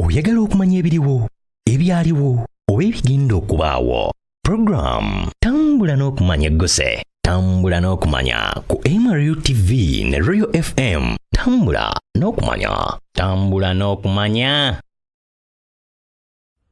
oyagala okumanya ebiriwo ebyaliwo oba ebigenda okubaawo puroguramu tambula n'okumanya egguse tambula n'okumanya ku mru tv ne royal fm tambula n'okumanya tambula n'okumanya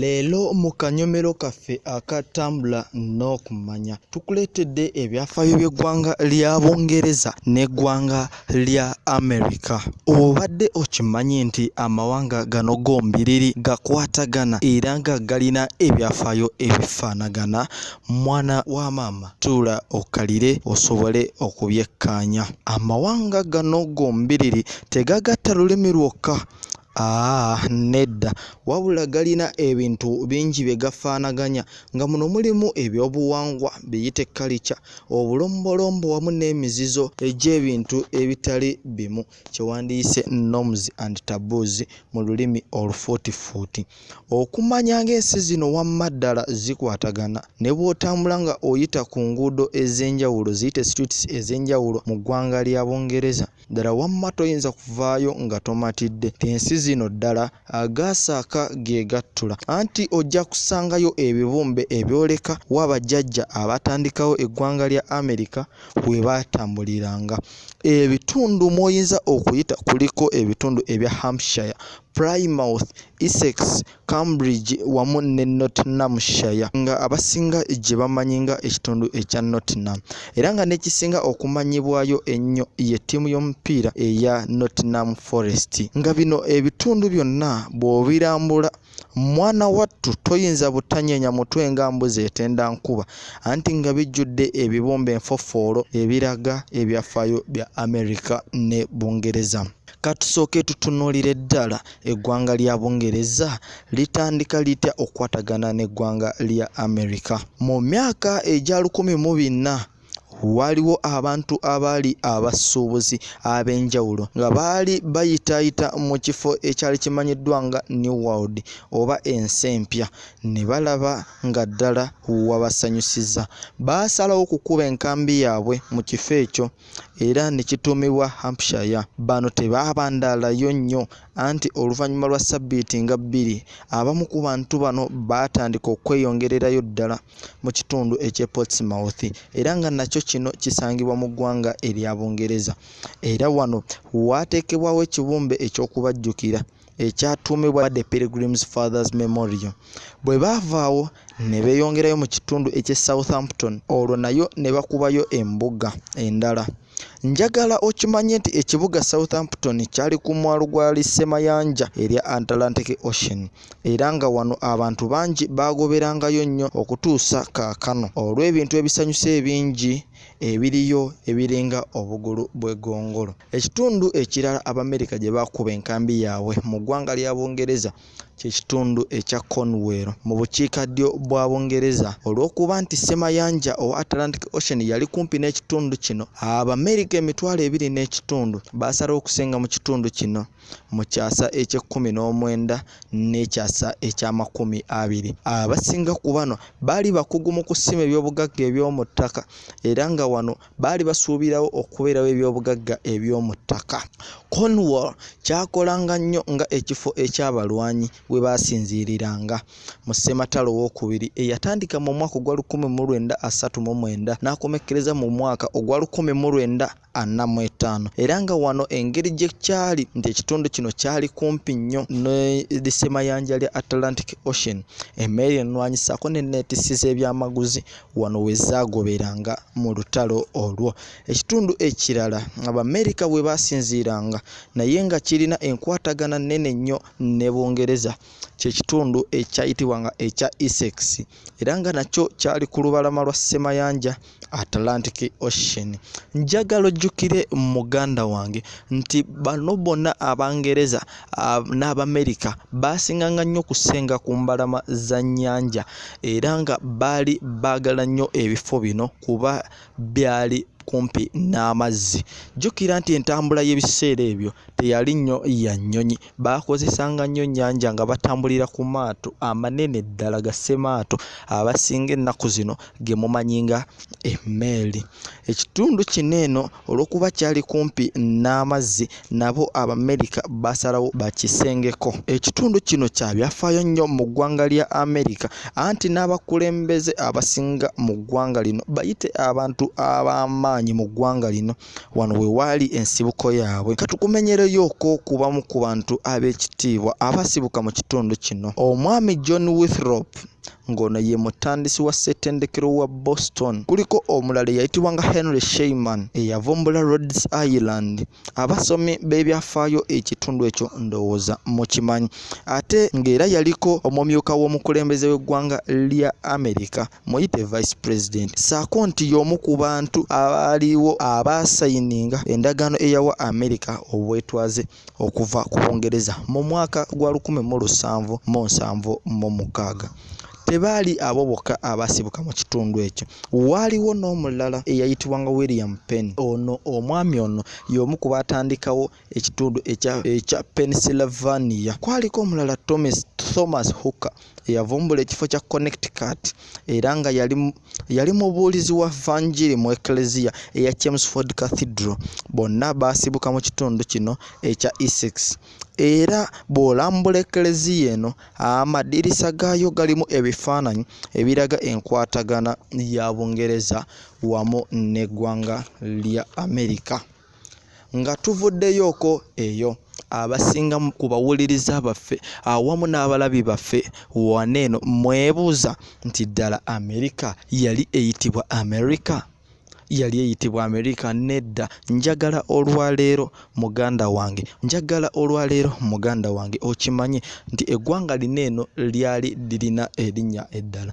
Leero mu kanyomero kaffe aka Tambula n'Okumanya tukuleetedde ebyafaayo by'eggwanga lya Bungereza n'eggwanga lya America. Obadde okimanyi nti amawanga gano gombiriri gakwatagana era nga galina ebyafaayo ebifaanagana? Mwana wa maama tuula okkalire osobole okubyekkaanya. Amawanga gano gombiriri tegagatta lulimi lwokka Aa ah, nedda wabula galina ebintu bingi bye gafaanaganya nga muno mulimu ebyobuwangwa biyite kalica obulombolombo wamu n'emizizo egy'ebintu ebitali bimu kye wandiyise norms and taboos mu lulimi olufuutifuuti okumanya ng'ensi zino wamma ddala zikwatagana ne bw'otambula nga oyita ku nguudo ez'enjawulo ziyite streets ez'enjawulo mu ggwanga lya bungereza ddala wamma toyinza kuvaayo nga tomatidde ensi zino ddala agaasaaka ge gattula anti ojja kusangayo ebibumbe ebyoleka wa bajjajja abatandikawo eggwanga lya amerika we baatambuliranga ebitundu mw'oyinza okuyita kuliko ebitundu ebya hampshire plymouth essex Cambridge wamu ne Nottinghamshire nga abasinga gye bamanyi nga ekitundu ekya Nottingham era nga n'ekisinga okumanyibwayo ennyo ye ttiimu y'omupiira eya Nottingham Forest nga bino ebitundu byonna bw'obirambula mwana wattu toyinza butanyeenya mutwe nga mbuzi etenda nkuba anti nga bijjudde ebibumba enfofoolo ebiraga ebyafaayo bya Amerika ne Bungereza. Katusooke tutunuulire ddala eggwanga lya Bungereza litandika litya okukwatagana n'eggwanga lya Amerika. Mu myaka egya lukumi mu bina waaliwo abantu abaali abasuubuzi ab'enjawulo nga baali bayitaayita mu kifo ekyali kimanyiddwa nga New World oba ensi empya ne balaba nga ddala wabasanyusiza. Baasalawo okukuba enkambi yaabwe mu kifo ekyo. era ne kituumibwa Hampshire. Bano tebaabandaalayo nnyo anti oluvannyuma lwa ssabbiiti nga bbiri, abamu ku bantu bano baatandika okweyongererayo ddala mu kitundu eky'e Portsmouth era nga nakyo kino kisangibwa mu ggwanga erya Bungereza era wano waateekebwawo ekibumbe eky'okubajjukira. ekyatuumibwa the pilgrims fathers memorial bwe baavaawo ne beeyongerayo mu kitundu eky'e southampton olwo nayo ne bakubayo embuga endala njagala okimanye nti ekibuga southampton kyali ku mwalo gwa lisemayanja erya atlantic ocean era nga wano abantu bangi baagoberangayo nnyo okutuusa kaakano olw'ebintu ebisanyusa ebingi ebiriyo ebiringa obugulu bw'egongolo Ekitundu ekirala Abamerika gye baakuba enkambi yaabwe mu ggwanga lya Bungereza kye kitundu ekya Cornwall mu bukiikaddyo bwa Bungereza. Olw'okuba nti ssemayanja owa Atlantic Ocean yali kumpi n'ekitundu kino, Abamerika emitwalo ebiri n'ekitundu baasalawo okusenga mu kitundu kino mu kyasa eky'ekkumi n'omwenda n'ekyasa eky'amakumi abiri. Abasinga ku bano baali bakugu mu kusima ebyobugagga eby'omu ttaka era nga wano baali basuubirawo okubeerawo ebyobugagga eby'omu ttaka cornwall kyakolanga nnyo nga ekifo eky'abalwanyi we baasinziiriranga mu ssematalo w'okubiri eyatandika mu mwaka ogwa 1939 n'akomekkereza mu mwaka ogwa 1945 era nga wano engeri gye kyali nti ekitundu kino kyali kumpi nnyo nesemayanja lya atlantic ocean emmeeri ennwanyisaako ne neetisi z'ebyamaguzi wano we zaagoberanga mu lutalo olwo. Ekitundu ekirala Abamerika we baasinziiranga naye nga kirina enkwatagana nnene nnyo ne Bungereza kye kitundu ekyayitibwanga ekya Essex era nga nakyo kyali ku lubalama lwa Ssemayanja Atlantic Ocean. Njagala ojjukire muganda wange nti bano bonna Abangereza Ah, n'abamerika baasinganga nnyo okusenga ku mbalama za nnyanja era nga baali baagala nnyo ebifo bino kuba byali kumpi n'amazzi jjukira nti entambula y'ebiseera ebyo teyali nnyo ya nnyonyi baakozesanga nnyo nnyanja nga batambulira ku maato amanene ddala ga ssemaato abasinga ennaku zino ge mumanyi nga emmeeri ekitundu kino eno olw'okuba kyali kumpi n'amazzi nabo abamerika basalawo bakisengeko ekitundu kino kya byafaayo nnyo mu ggwanga lya amerika anti n'abakulembeze abasinga mu ggwanga lino bayite abantu ab'amaanyi mu ggwanga lino wano we waali ensibuko yaabwe katukumenyereyooko ku bamu ku bantu ab'ekitiibwa abasibuka mu kitundu kino omwami john withrop ng'ono ye mutandisi wa ssetendekero wa boston kuliko omulala eyayitibwa nga henry sheyman eyavumbula rhodes ireland abasomi b'ebyafaayo ekitundu ekyo ndowooza mukimanyi ate ng'era yaliko omumyuka w'omukulembeze w'eggwanga lya amerika muyite vice president saako nti y'omu ku bantu abaaliwo abaasayininga endagaano eyawa amerika obwetwaze okuva ku bungereza mu mwaka gwa 1776 tebaali abo bokka abaasibuka mu kitundu ekyo waaliwo n'omulala eyayitibwanga william penn ono omwami ono y'omu ku baatandikawo ekitundu ekya ekya Pennsylvania. Kwaliko omulala Thomas Thomas Hooker eyavumbula ekifo kya Connecticut era nga yali yali mubuulizi wa Vanjiri mu Eklezia eya Chelmsford Cathedral. Bonna baasibuka mu kitundu kino ekya Essex. Era bw'olambula Eklezia eno, amadirisa gaayo galimu ebifaananyi ebiraga enkwatagana ya Bungereza wamu n'eggwanga lya Amerika. nga tuvuddeyooko eyo abasinga ku bawuliriza baffe awamu n'abalabi baffe wana eno mwebuuza nti ddala amerika yali eyitibwa amerika yali eyitibwa amerika nedda njagala olwaleero muganda wange njagala olwaleero muganda wange okimanye nti eggwanga lino eno lyali lirina erinnya eddala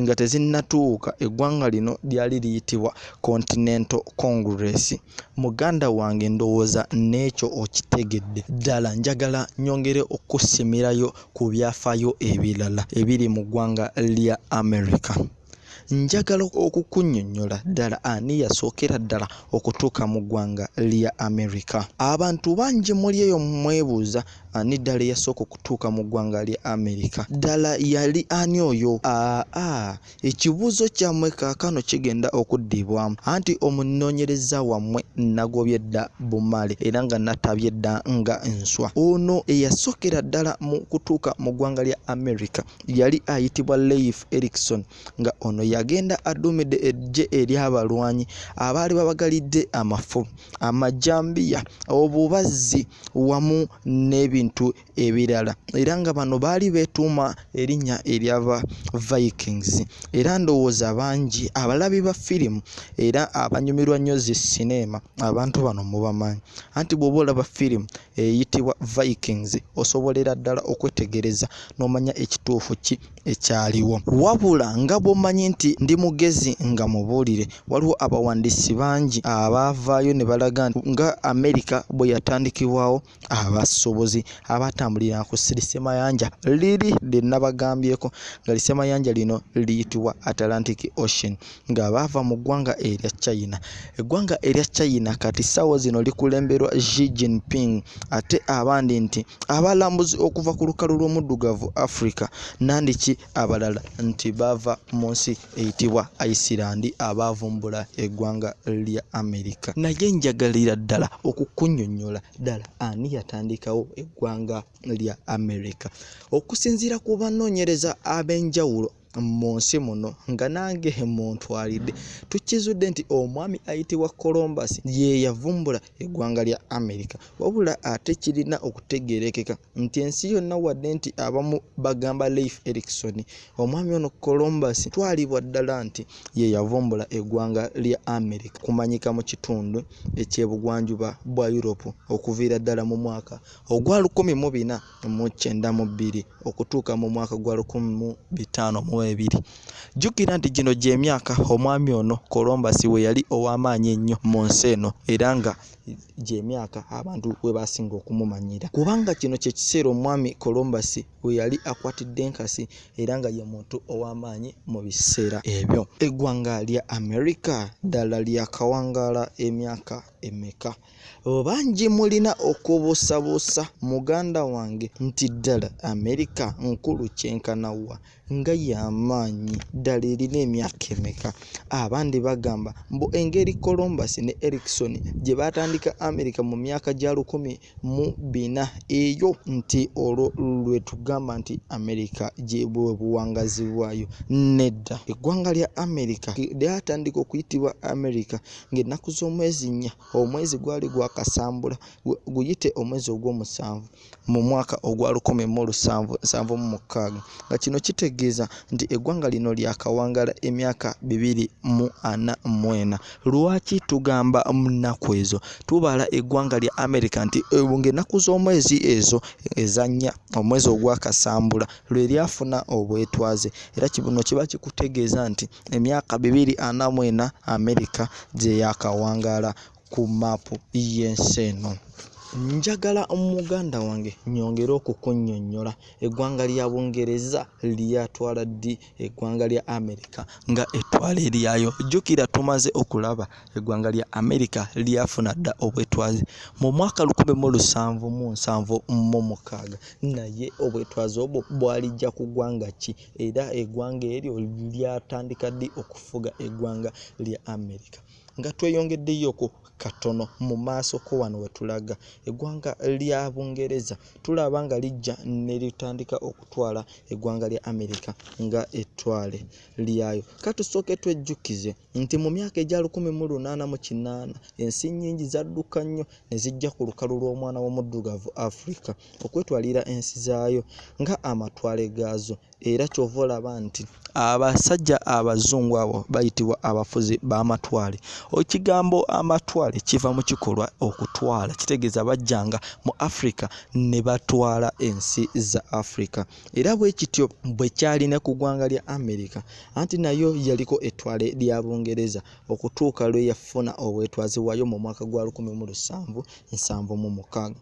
nga tezinnatuuka eggwanga lino lyali liyitibwa continental congress muganda wange ndowooza n'ekyo okitegedde ddala njagala nyongere okukusimirayo ku byafaayo ebirala ebiri mu ggwanga lya america njagala okukunyonyola ddala ani yasookera ddala okutuuka mu ggwanga lya amerika abantu bangi muli eyo mwebuuza ani ddala eyasooka okutuuka mu ggwanga lya amerika ddala yali ani oyo aa ekibuuzo kyammwe kaakano kigenda okuddibwamu anti omunoonyereza wammwe nagobye dda bumale era nga natabye dda nga nswa ono eyasookera ddala mu kutuuka mu ggwanga lya amerika yali ayitibwa leif erikson nga ono yagenda aduumidde eggye ery'abalwanyi abaali babagalidde amafu amajambiya obubazzi wamu n'ebintu ebirala era nga bano baali beetuuma erinnya eryaba vikings era ndowooza bangi abalabi ba firimu era abanyumirwa nnyo zi sineema abantu bano mubamanyi anti bw'oba olaba firimu eyitibwa Vikings osobolera ddala okwetegereza n'omanya ekituufu ki ekyaliwo wabula nga bw'omanyi nti ndi mugezi nga mubuulire waliwo abawandiisi bangi abaavaayo ne balaga nga amerika bwe yatandikibwawo abasuubuzi abatambulira ku sirisemayanja liri lye nabagambyeko nga lisemayanja lino liyitibwa atlantic ocean nga baava mu ggwanga erya China. Eggwanga erya China kati ssaawa zino likulemberwa Xi Jinping ate abandi nti abalambuzi okuva ku lukalu lw'omuddugavu Africa nandiki abalala nti baava mu nsi eyitibwa Iceland abaavumbula eggwanga lya Amerika. Naye njagalira ddala okukunyonyola ddala ani yatandikawo eggwanga lya Amerika. Okusinziira ku banoonyereza ab'enjawulo mu nsi muno nga nange muntwalidde tukizudde nti omwami ayitibwa colombus ye yavumbula eggwanga lya amerika wabula ate kirina okutegeerekeka nti ensi yonna wadde nti abamu bagamba leif erikson omwami ono colombus twalibwa ddala nti ye yavumbula eggwanga lya amerika kumanyika mu kitundu ekyebugwanjuba bwa europe okuviira ddala mu mwaka ogwa 1 mu bina mu kyenda mu bbiri okutuuka mu mwaka gwa lukumi mu bitaano mu ebiri jjukira nti gino gy'emyaka omwami ono kolombasi we yali ow'amaanyi ennyo mu nsi eno era nga gy'emyaka abantu we baasinga okumumanyira kubanga kino kye kiseera omwami kolombasi we yali akwatidde enkasi era nga ye muntu ow'amaanyi mu biseera ebyo eggwanga lya amerika ddala lyakawangaala emyaka emeka bangi mulina okubuusabuusa muganda wange nti ddala amerika nkulu kyenkana wa nga y'amaanyi ddala erina emyaka emeka abandi bagamba mbu engeri colombus ne erikson gye baatandika amerika mu myaka gya lukumi mu bina eyo nti olwo lwe tugamba nti amerika gyebwe buwangazi bwayo nedda eggwanga lya amerika lyatandika okuyitibwa amerika ng'ennaku z'omwezi nnya omwezi gwali gwakasambula guyite omwezi ogw'omusanvu mu mwaka ogwa lukumi mu lusanvu nsanvu mu mukaaga nga kino kitegeeza nti eggwanga lino lyakawangala emyaka bibiri mu ana mu ena lwaki tugamba mu nnaku ezo tubala eggwanga lya amerika nti ng'ennaku z'omwezi ezo ezannya omwezi ogwakasambula lwe lyafuna obwetwaze era kibuno kiba kikutegeeza nti emyaka bibiri ana mu ena amerika gye yaakawangaala ku maapu y'ensi eno njagala muganda wange nyongere okukunyonyola eggwanga lya bungereza lyatwala ddi eggwanga lya amerika nga ettwale lyayo jjukira tumaze okulaba eggwanga lya amerika lyafuna dda obwetwaze mu mwaka 1776 naye obwetwaze obwo bwalijja ku ggwanga ki era eggwanga eryo lyatandika ddi okufuga eggwanga lya amerika nga tweyongeddeyoko katono mu maaso ko wano we tulaga eggwanga lya bungereza tulaba nga lijja ne litandika okutwala eggwanga lya amerika nga ettwale lyayo katusooke twejjukize nti mu myaka egya 1898 ensi nnyingi zadduka nnyo ne zijja ku lukalu lw'omwana w'omuddugavu afrika okwetwalira ensi zaayo nga amatwale gaazo era kyova olaba nti abasajja abazungu abo bayitibwa abafuzi b'amatwale ekigambo amatwale kiva mu kikolwa okutwala kitegeeza bajjanga mu africa ne batwala ensi za africa era bwe kityo bwe kyali ne ku ggwanga lya america anti nayo yaliko ettwale lya bungereza okutuuka lwe yafuna obwetwazi bwayo mu mwaka gwa 1776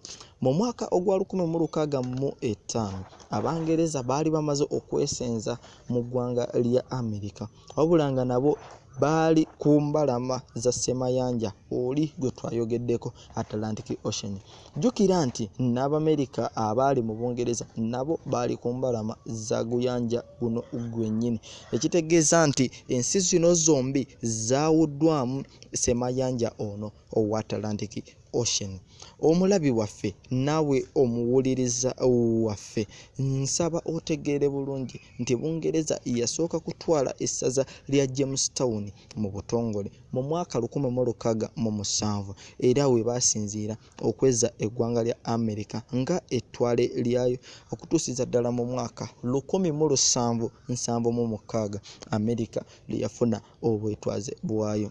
mu mwaka ogwa 16 mu 5 abangereza baali bamaze okwesenza mu ggwanga lya amerika wabula nga nabo baali ku mbalama za semayanja oli gwe twayogeddeko atlantic ocean jjukira nti n'abamerika abaali mu bungereza nabo baali ku mbalama za guyanja guno gwennyini ekitegeeza nti ensi zino zombi zaawuddwamu semayanja ono owa atlantic Ocean omulabi waffe naawe omuwuliriza waffe nsaba otegeere bulungi nti bungereza yasooka kutwala essaza lya james town mu butongole mu mwaka 1607 era we baasinziira okweza eggwanga lya amerika nga ettwale lyayo okutuusiza ddala mu mwaka 1776 amerika lye yafuna obwetwaze bwayo